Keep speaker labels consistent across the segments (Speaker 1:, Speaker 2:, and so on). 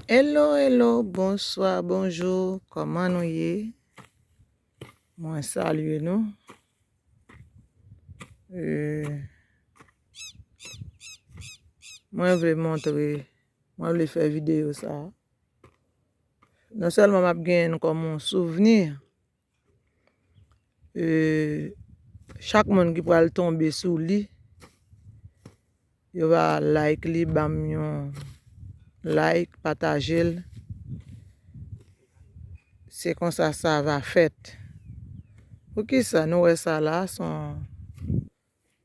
Speaker 1: Hello hello bonsoir bonjour koman nou ye mwen salye nou euh, mwen vle montre mwen vle fè video sa non sèlman map gen kòm on souvenir Chak moun ki pral tonbe sou li Yo va like li banm yon like patajel Se konsa sa va fèt Poukisa nou wè sa la son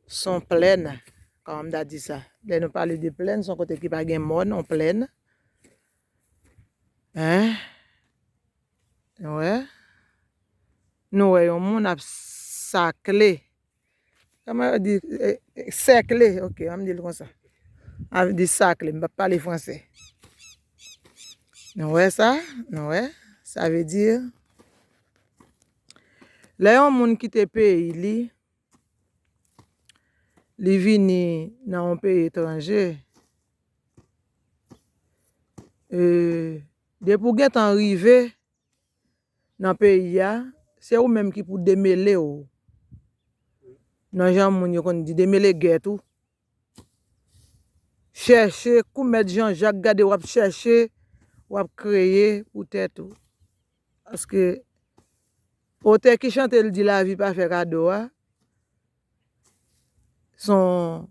Speaker 1: Son plèn Kòman m ta di sa Lè nou pale de plèn son kote ki pa gen mòn yon plèn Hein Nou wè? Nou wè yon moun ap sakle. Kòman yo di sèkle? Ok, an m di l konsa. A vle di sakle. M pa pale franse. Nou wè sa? Nou wè? Sa vle di, lè yon moun kite peyi li, li vini nan yon peyi etranje, e, Depi w gentan rive nan peyi a, se ou menm ki pou demele w nan jan moun yo konn di demele gèt ou. Chèche kou mèt Jan Jak gade wap chèche, wap kreye pou tèt ou. Paske otè ki chante l di lavi pa fè kado a, son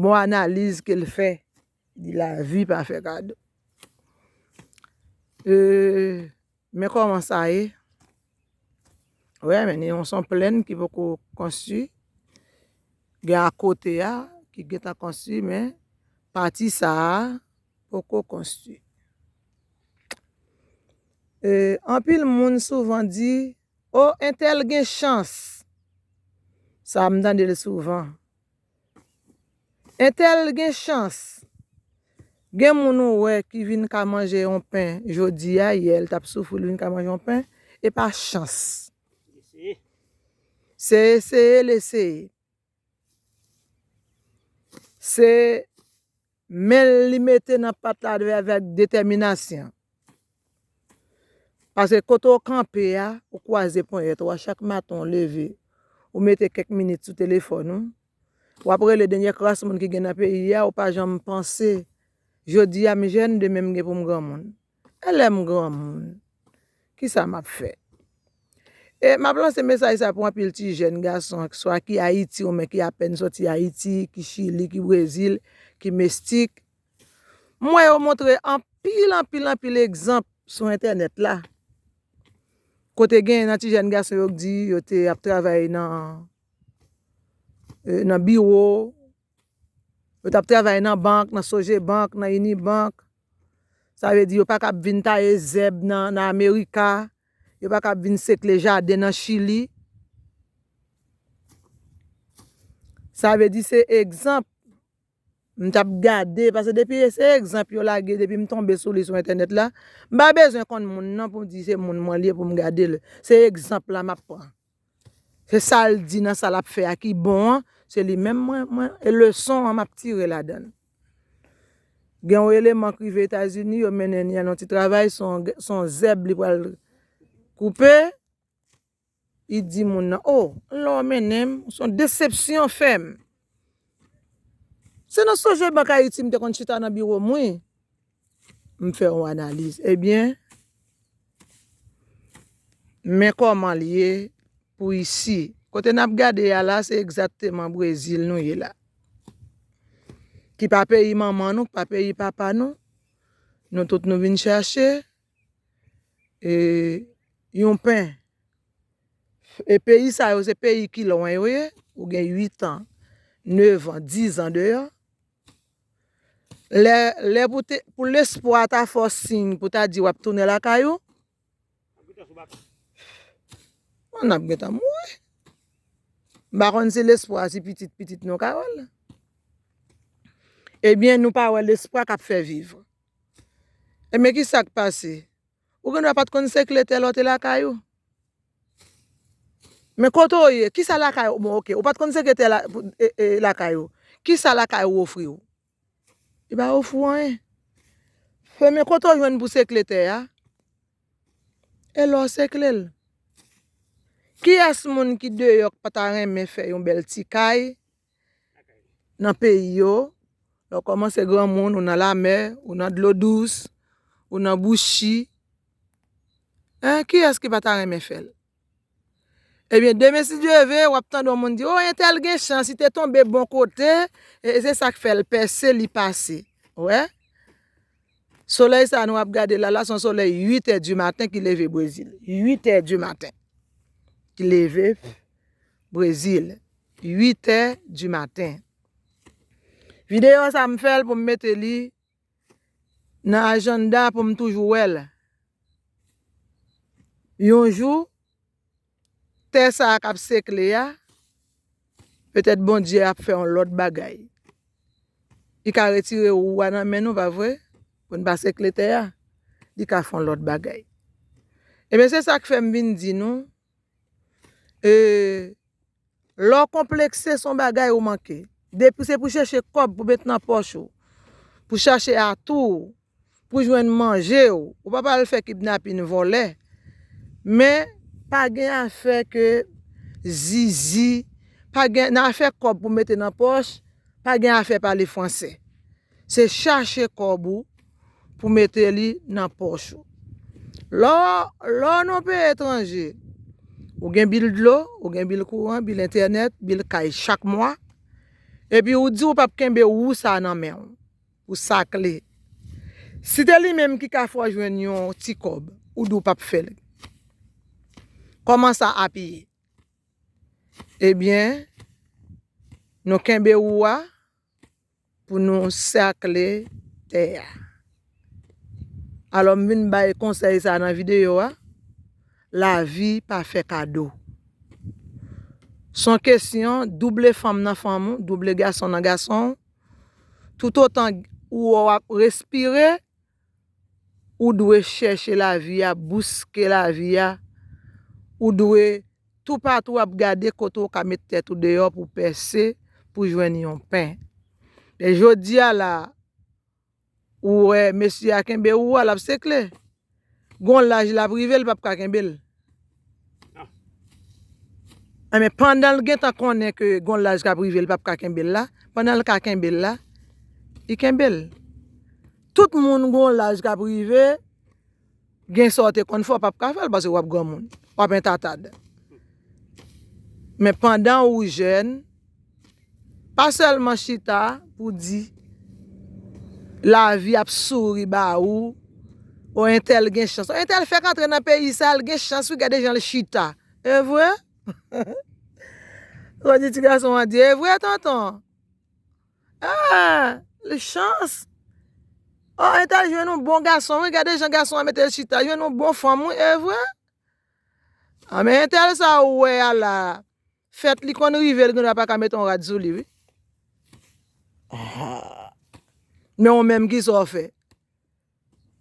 Speaker 1: bon analiz ke l fè. Di lavi pa fè kado. Eeeeh men koman sa ye. Wè men ni yon son plèn ki poko konstwi. Gen a kote a ki gentan konstwi men pati sa a poko konstwi. Eeeh anpil moun souvan di oh entèl gen chans. Sa m tande l souvan. Entèl gen chans. Gen moun ou wè ki vin ka manje yon pen jodi a, yè l t ap soufri l vin ka manje yon pen, e pa chans. Se eseye l eseye. Se Men l li mete nan pat la avèk detèminasyon. Paske kote w kanpe a, ou kwaze ponyèt ou a chak maten w leve, ou mete kèk minit sou telefòn ou, w ap rele dènyè kras moun ki gen nan peyi a, ou pa janm panse, jodi a m jèn, demen m gen pou m granmoun. E lè m granmoun, ki sa m ap fè? E m ap lanse mesaj sa pou anpil ti jèn gason ak swa ki Ayiti ou men ki apèn soti Ayiti, ki Chili, ki Brezil, ki Mestik. M wè yo montre anpil, anpil, anpil egzanp sou entènèt la. Kote gen nan ti jèn gason yo k di yo te ap travay nan biwo. Yo t ap travay nan bank, nan Sogebank, nan Unibank. Sa vle di yo pa kab vin taye zèb nan Amerika. Yo pa kab vin sekle jaden nan Chili. Sa vle di se egzanp m t ap gade. Pase depi e se egzanp yo lage depi m tonbe sou li sou entènèt la. M pa bezwen konn moun nan pou m di se moun mwen li e pou m gade l. Se egzanp la m ap pran. Se sal di nan sa lap fè a ki bon an, se li menm mwen e leson an map tire ladan. Gen yon eleman ki rive Etazini, yo mennen li al yon ti travay, son zèb li pral koupe, li di moun nan, o, lè w mennen m, son desepsyon w fè m. Se nan Sogebank Ayiti m te konn chita nan biwo m wi. M fè yon analiz. Ebyen, men kòman l ye pou isi. Kote n ap gade a la, se egzakteman Brezil nou ye la. Ki pa peyi manman nou, ki pa peyi papa nou. Nou tout nou vin chache. E yon pen. E peyi sa yo, se peyi ki lwen yo ye. Ou gen 8 an, 9 an, 10 an deyò. Lè pou lespwa a ta fè w siy pou ta di w ap tounen lakay ou. Mwen ap gen tan mouri. M pa konn si lespwa a si pitit pitit nou ka wè l. Ebyen nou pa wè lespwa k ap fè viv. Ebyen ki sa k pase? Ou gen dwa pat konn se kle tè lè w te lakay ou. Men kote w ye, kisa lakay ou, bon ok, ou pat konn se kle tè lakay ou, kisa lakay ou ofri w? Li pa ofri w anyen. Premye kote w jwenn pou se kle tè a, e lè w se kle l. Kiyès moun ki deyò k pa ta renmen fè yon bèl ti kay nan peyi yo, lè w kòmanse granmoun, ou nan lamè, ou nan dlo dous, ou nan bouchi, hein, kiyès ki pa ta renmen fè l? Ebyen, demen si Dye ve, w ap tande yon moun di, o, entèl gen chans, li te tonbe bon kote, e se sa k fè l pèse, li pase. Ou wè? Solèy sa a nou ap gade la la, se yon solèy uitè di maten ki leve Brezil. Uitè di maten ki leve Brezil. 8 è di maten. Videyo sa m fè l pou m mete li nan ajannda pou m toujou wè l. Yon jou, tè sa a k ap sekle a, petèt Bondye ap fè yon lòt bagay. Li ka retire wou a nan men nou, pa vre? Pou n pa sekle tè a. Li ka fè yon lòt bagay. Ebyen, se sa k fè m vin di nou. Eeee lè w konplekse son bagay ou manke depi se pou chèche kòb pou met nan pòch ou pou chache atou w pou jwenn manje w ou pa pral fè kidnapin vòlè men pa gen afè ke zizi pa gen nan afè kòb pou mete nan pòch pa gen afè pale fransè. Se chache kòb ou pou mete li nan pòch ou. Lò, lò nan yon peyi etranje, ou gen bil dlo, ou gen bil kouran, bil entènèt, bil kay chak mwa, epi ou di ou pap kenbe wou sa nan men ou, ou sakle. Si te li menm ki ka fè w jwenn yon ti kòb, ou di ou pap fè l. Kòman sa ap ye? Ebyen, nou kenbe wou a, Pou nou sèkle tè a. Alò m vin bay konsèy sa nan videyo a, lavi pa fè kado. Son kesyon double fanm nan fanm ou, double gason nan gason ou, toutotan ou wè w ap respire, Ou dwe chèche lavi a, bouske lavi a. Ou dwe toupatou ap gade kote ou ka met tèt ou deyò pou pèse, pou jwenn yon pen. Men jodi a la, ou wè mesye a kenbe ou a, l ap sekle. Gon laj l ap rive, l pap ka kenbe l. Enben pandan l gentan konnen ke gon laj kap rive li pap ka kenbe l la, pandan l ka kenbe l la, li kenbe l. Tout moun gon laj kap rive, gen sa w te konn fè w pap ka fè l paske wap granmoun, wap entatad. Men pandan ou jèn. Pa sèlman chita pou di lavi ap souri ba ou, o entèl gen chans. O entèl fèk antre nan peyi sa, l gen chans wi gade jan l chita. Evre? Ou di ti gason an di evre tonton? Eee, l chans. O entèl jwenn yon bon gason wi, gade jan gason an mete l chita, jwenn yon bon fanm wi, evre? Anben entèl sa ou wè a la. Fèt li konn rive l gendwa pa ka met on rad sou li wi. Men ou menm ki sa w fè?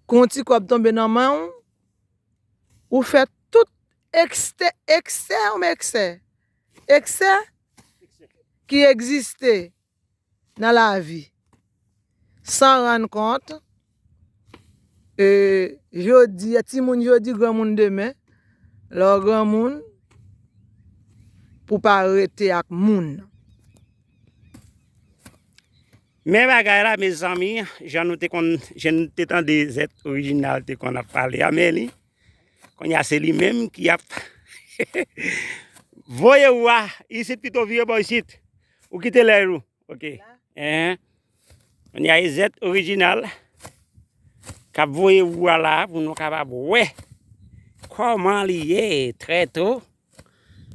Speaker 1: Kon ti kòb tonbe nan men w, ou fè tout ekste, eksè ou eksè? Eksè ki egziste nan lavi san rann kont e jodi a ti moun jodi gran moun demen lè w gran moun pou pa rete ak moun.
Speaker 2: Men bagay la mezanmi jan nou te konn jan nou te tande zèt orijinal te konn ap pale a men li kounye a se li menm ki ap voye ou a isit pito vire bò isit Ou kite lè ou. Ok. Hein. On y a Ezet original. Kap voye ou a la pou nou kapab wè koman li ye trè to.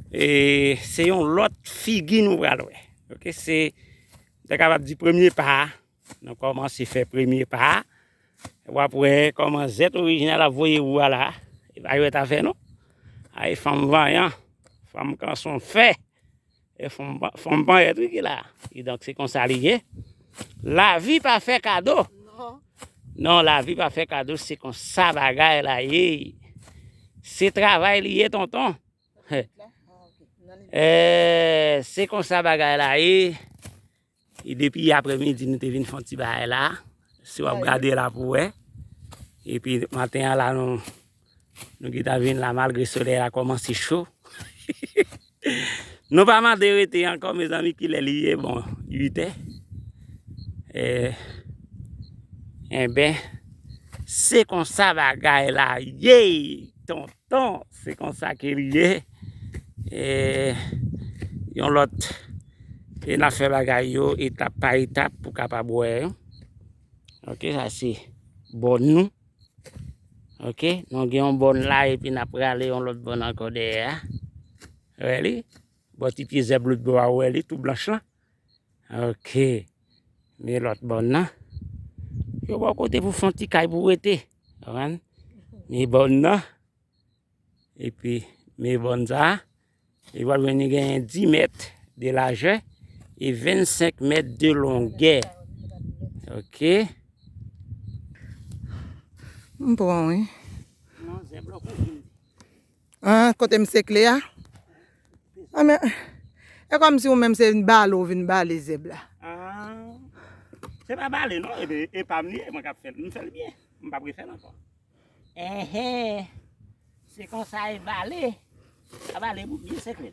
Speaker 2: E se yon lot figi nou pral wè. Ok se ta kapab di premye pa a. Nou koman se fè premye pa a. Wap wè koman Ezet original ap voye ou a la. E pa jwèt afè non. Ay fanm vanyan. Fanm kanson fè. E fòm fòm panyèt wi ki la. Ki donk se konsa li ye. Lavi pa fè kado. Non. Non, lavi pa fè kado, se konsa bagay la ye. Se travay li ye tonton. E, se konsa bagay la ye. E depi apre midi nou te vin fon ti bay la. Si wap gade la pou we. E pi maten an la nou. Nou ki ta vin la malgre sole la koman se cho. Nou pa man de rete an kon me zanmi ki le li ye bon. Yite. E. E ben. Se konsa bagay la yey. Ton. Bon se konsa ke li ye eee yon lòt e nap fè bagay yo etap pa etap pou kapab wè yo ok sa se bòn nou ok nou gen yon bòn la epi nap prale yon lòt bòn ankò dèyè a ou wè li bò ti pye zèb lòt bò a ou wè li tou blanch lan ok men lòt bòn nan yo bò kote pou fon ti kay pou rete. Konprann? Mi bòn nan, epi mi bòn sa, li pral vin li genyen 10 mèt de lajè e 25 mèt de longè. Ok?
Speaker 1: M pran wi. Non, zèb
Speaker 2: la w kouvri l.
Speaker 1: An kote misye kle a. An men e kom si ou menm se yn bale ou vin bale zèb la. An
Speaker 2: se pa bale non e pam li ye mwen kap fèl m fèl byen m pap refèl ankò. Enhee se konsa e bale a bale bout byen sekre.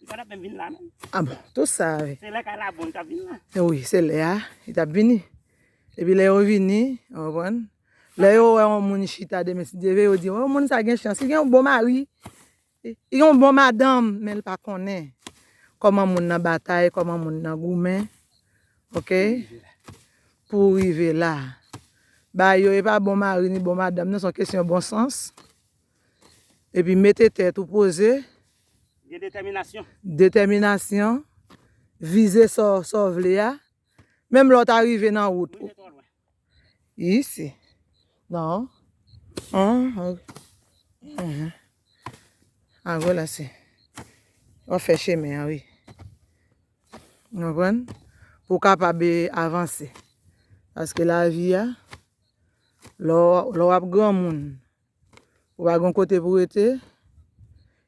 Speaker 1: Li pa tap menm vin
Speaker 2: la menm. Ah bon, tout sa a
Speaker 1: vin. Se lè kay la bon li tap
Speaker 2: vin la. Wi, se lè a
Speaker 1: li tap vini. Epi lè yo vini, ou konprann? Lè yo wè yon moun chita demen si Dye ve, yo di, oh moun sa gen chans, li gen yon bon mari. Li gen yon bon madanm, men li pa konnen kòman moun nan batay, kòman moun nan goumen. Ok? Pou rive la. Ba yo e pa bon mari ni bon madanm non, se yon kesyon bon sans. Epi mete tèt ou poze. Gen detèminasyon.
Speaker 2: Detèminasyon.
Speaker 1: Vize sa w vle a. Menm lè w ta rive nan wout. Rive twò lwen. Isi. Non. A gwo la se. W ap fè chemen an wi. Ou konprann? Pou w kapab avanse. Paske lavi a, lè w ap granmoun, Ou pa gon kote pou rete.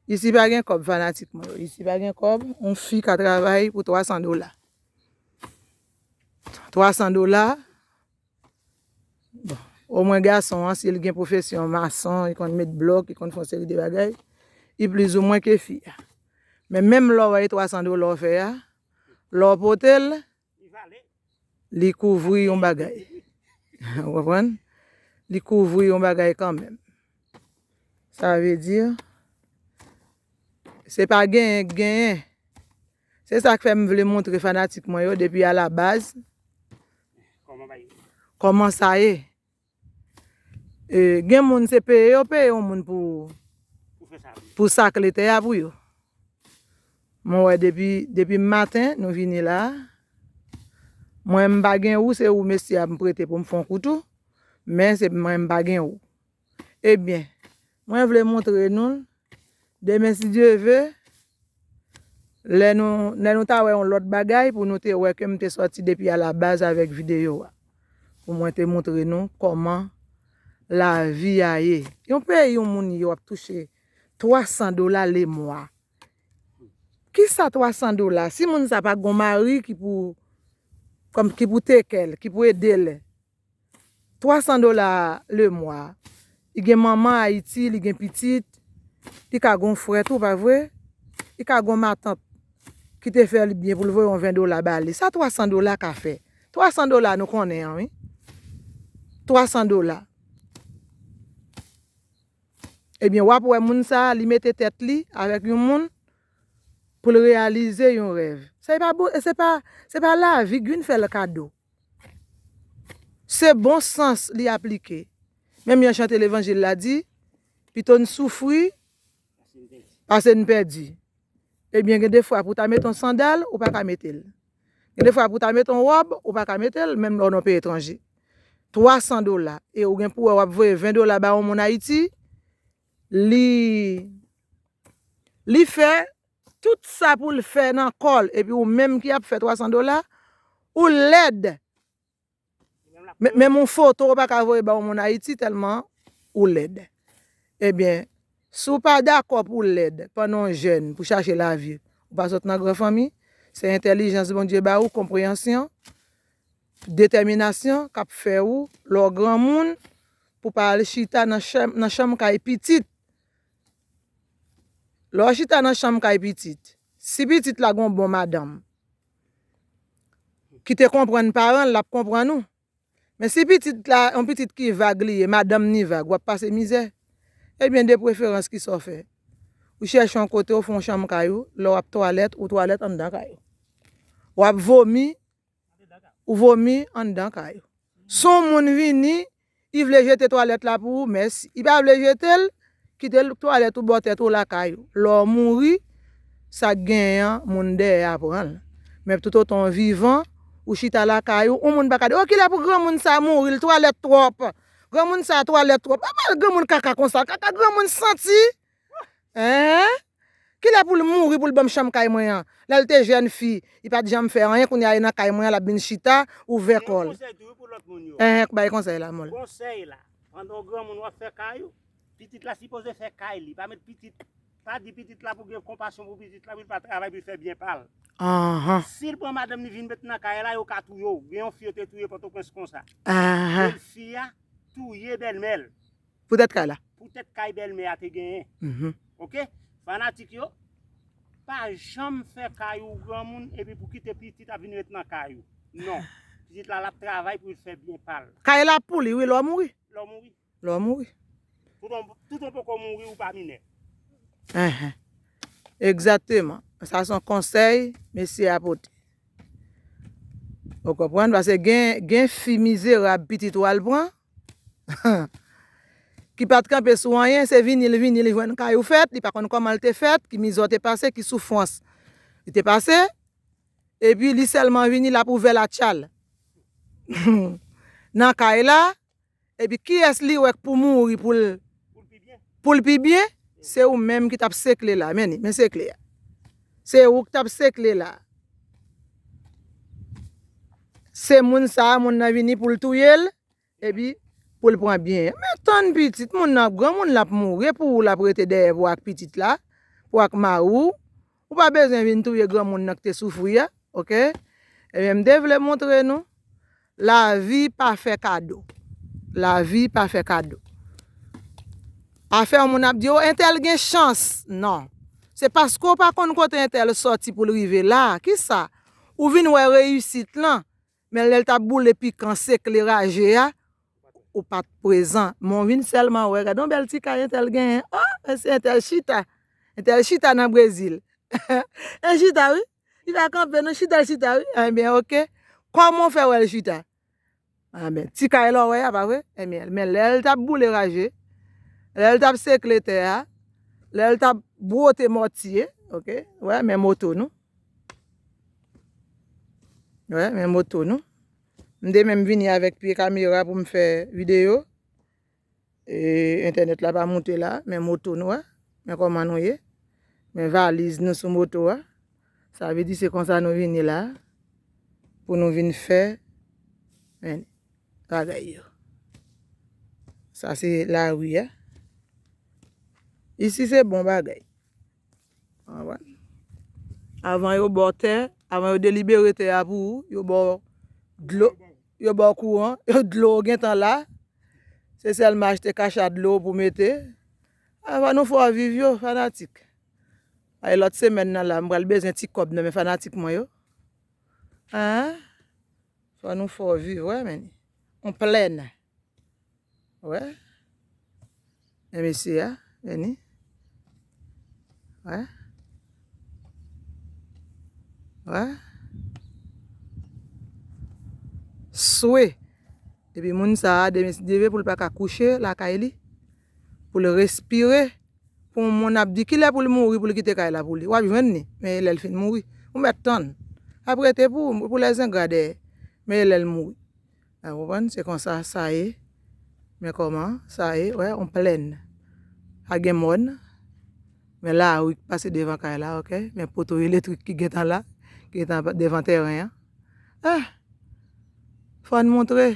Speaker 1: Isi pa gen kòb fanatik mwen yo. Isi pa gen kòb. On fi ka travay pou 300 dola. 300 dola. Bon. O mwen gason an si li gen pwofesyon mason, li konn met blòk, li konn fon seri de bagay. Li pliz ou mwen ke fi a. Men menm lò wè e 300 dola ou fè a. Lò pote l. Li kouvri yon bagay. Ou konprann? Li kouvri yon bagay kanmenm. Sa vle di, se pa genyen k genyen. Se sa k fè m vle montre fanatik mwen yo depi alabaz, kòman sa ye. E gen moun se peye yo peye yon moun pou pou sakle tè a pou yo. Mwen wè depi depi maten nou vini la. Mwen m pa gen wou se wou mesye a m prete pou m fon koutou men se mwen m pa gen wou. Ebyen Mwen vle montre nou l. Demen si Dye ve, lè nou, lè nou ta wè yon lòt bagay pou nou te wè ke m te sòti depi a la baz avèk videyo a. Pou mwen te montre nou kòman lavi a ye. Yon peyi yon moun ye w ap touche 300 dola le mwa. Ki sa 300 dola? Si moun sa pa gon mari ki pou, kòm, ki pou teke l, ki pou ede l. 300 dola le mwa li gen manman ayiti li gen pitit li ka gon frè tou pa vre li ka gon matant ki te fè li byen pou li voye yon 20 dola ba li sa 300 dola ka fè 300 dola nou konnen an wi 300 dola ebyen wap wè moun sa li mete tèt li avèk yon moun pou li reyalize yon rèv se pa lavi gin fè l kado. Se bon sans li aplike. Menm jan chante levanjil la di, Pito n soufri pase n pèdi. Ebyen gen de fwa pou w ta mete yon sandal, ou pa ka mete l. Gen de fwa pou w ta mete yon wòb, ou pa ka mete l, menm lè w nan yon peyi etranje. 300 dola e ou gen pou wè w ap voye 20 dola ba yon moun Ayiti, li fè. Tout sa poul fè nan kòl epi ou menm ki ap fè 300 dola ou lèd menm yon foto ou paka voye ba yon moun ayiti tèlman ou lèd ebyen si w pa dakò pou w lèd pandan w jèn pou chache lavi ou pa sot nan gran fanmi se entèlijans Bondye ba ou konpreyansyon detèminasyon kap fè ou lè w granmoun pou pa al chita nan chanm kay pitit Lè w chita nan chanm kay pitit, si pitit la gen yon bon madanm ki te konprann paran l, l ap konprann ou. Men si pitit la, yon pitit ki vag li ye, madanm ni vag, w ap pase mizè. Ebyen de preferans ki sa w fè? Ou chèche yon kote ou fè yon chanm kay ou, lè w ap twalèt, ou twalèt anndan kay ou. W ap vomi, Ou vomi anndan kay ou. Si yon moun vini, li vle jete twalèt la pou ou, mèsi. Li pa vle jete l, kite l twalèt ou bò tèt ou lakay ou. Lè w mouri, sa k genyen an, moun dèyè a pran l. Men toutotan w vivan, ou chita lakay ou, yon moun pa ka di, o kilè pou granmoun sa a mouri, l twalèt twòp, granmoun sa a twalèt twòp. Epa l granmoun kaka konsa, kaka granmoun santi! Eeh kilè poul mouri poul banm chanm kay mwen an lèl te jèn fi li pat janm fè anyen kounya li nan kay mwen an lap vin chita ouvè kòl eeh k bay konsèy la mòl. Konsèy la pandan
Speaker 2: w granmoun wap fè kay ou pitit la sipoze fè kay li pa met pitit pa di pitit la pou gen konpasyon pou pitit la pou l pa travay pou l fè byen pal si l pran madanm li vin met nan kay la yo ka touye w gen yon fi yo te touye pòtoprens konsa bèl fi a touye bèlmè l. Pou tèt kay la.
Speaker 1: Pou tèt kay bèlmè
Speaker 2: a te genyen. Ok fanatik yo pa janm fè kay ou granmoun epi pou kite pitit ap vin ret nan kay ou non pitit la lap travay pou l fè byen pa l. Kay la pou li wi lè
Speaker 1: w mouri. Lè w mouri. Lè w
Speaker 2: mouri. Toutan w poko mouri ou pa minè. Enhen
Speaker 1: egzateman sa son konsèy mesye a pote ou konprann pase gen gen fi mizerab pitit ou al pran. ki pat kanpe sou anyen, se vini li vini li jwenn kay ou fèt, li pa konn kòman li te fèt, ki mizè w te pase, ki soufrans li te pase, epi li sèlman vini l ap ouvè latchal nan kay la, epi kiyès li wè k pou mouri pou l Poul pi byen se ou menm ki tap sekle la men li men sekle a se ou ki tap sekle la se moun sa moun nan vini poul touyel epi poul pran byen an men tann pitit moun nan ap granmoun lap mouri epi ou lap rete dèyè pou ak pitit la pou ak mari ou Ou pa bezwen vin touye granmoun nan ki te soufri a ok ebyen m te vle montre nou lavi pa fè kado lavi pa fè kado afè moun ap di o entèl gen chans nan se paske ou pa konn kote entèl soti pou l rive la kisa ou vin wè reyisit lan Men lèl tap boule pikan sekleraje a ou pat prezan men w vin sèlman wè gadon bèl ti kay entèl genyen oh mesye entèl chita entèl chita nan brezil el chita wi li pa kanpe non chita l chita wi enbyen ok kòman w fè wè l chita anben ti kay la w wè a pa vre enbyen men lèl tap boule raje lèl tap sekle tè a lèl tap bwote mòtye ok wè men moto nou. Wè men moto nou. M de menm vini avèk pye kamera pou m fè video. E entènèt la pa moute la. Men moto nou a. Men kòman nou ye. Men valiz nou sou moto a. Sa vle di se konsa nou vini la. Pou nou vin fè. Men bagay yo. Sa se la ri a. Isi se bon bagay. Avan yo baw tè, avan yo delibere tè a pou ou, yo baw dlo, yo baw kouran, yo dlo ou gentan la. Se sèlman achte kacha dlo pou mete. Avan nou fò viv yo fanatik. Ay lòt semèn nan la, m pral bezwen ti kòb nan men fanatik mwen yo. Fò nou fò viv wè men. On plèn. Wè. E mesye ya. Veni. Wè. Wè. Swe. E pi moun sa a demes deve pou l pa ka kouche la kay li. Pou l respire. Pou moun ap di ki lè pou l mouri pou l kite kay la pou li. Wap jwenn ni. Men e lè l fin mouri. Ou met tann. Aprete pou lè zen gradè. Men e lè l mouri. Ou konprann? Se konsa sa ye. Men kòman sa ye. Wè, yon plèn. Pa gen mòn. Men lari ki pase devan kay la, ok. Men poto elektrik ki gentan la, ki gentan devan tèren an. Eh! Fò n montre.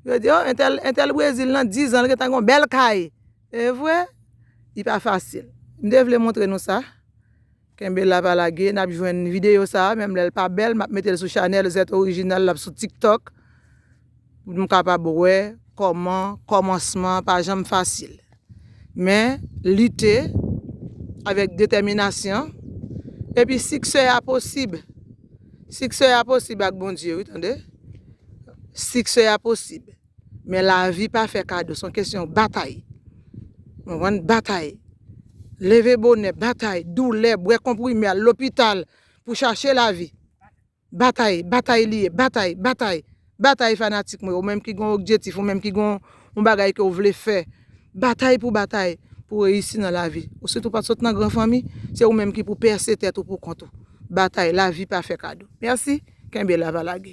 Speaker 1: Yo di, o, entèl, entèl Brezil nan dizan li gentan gen yon bèl kay. Se vre? Li pa fasil. M te vle montre nou sa. Kenbe la pa lage nap jwenn video sa menm lèl pa bèl map metel sou chanèl zèt orijinal lap sou tiktok pou nou kapab wè kòman kòmansman pa janm fasil men lite avèk detèminasyon epi siksè a posib siksè a posib ak Bondye wi tande siksè a posib. Men lavi pa fè kado, son kesyon batay. Konprann? Batay. Leve bonè, batay, doulè, bwè konprime, al lopital pou chache lavi. Batay, batay li ye, batay, batay. Batay fanatik mwen, ou menm ki gon okjetif, ou menm ki gon yon bagay ke ou vle fè. Batay pou batay, pou reyisi nan lavi. Ou sitou pat sot nan gran fanmi, se ou menm ki pou pèse tèt ou pou kont ou. Batay, lavi pa fè kado. Mèsi, kenbe la, pa lage.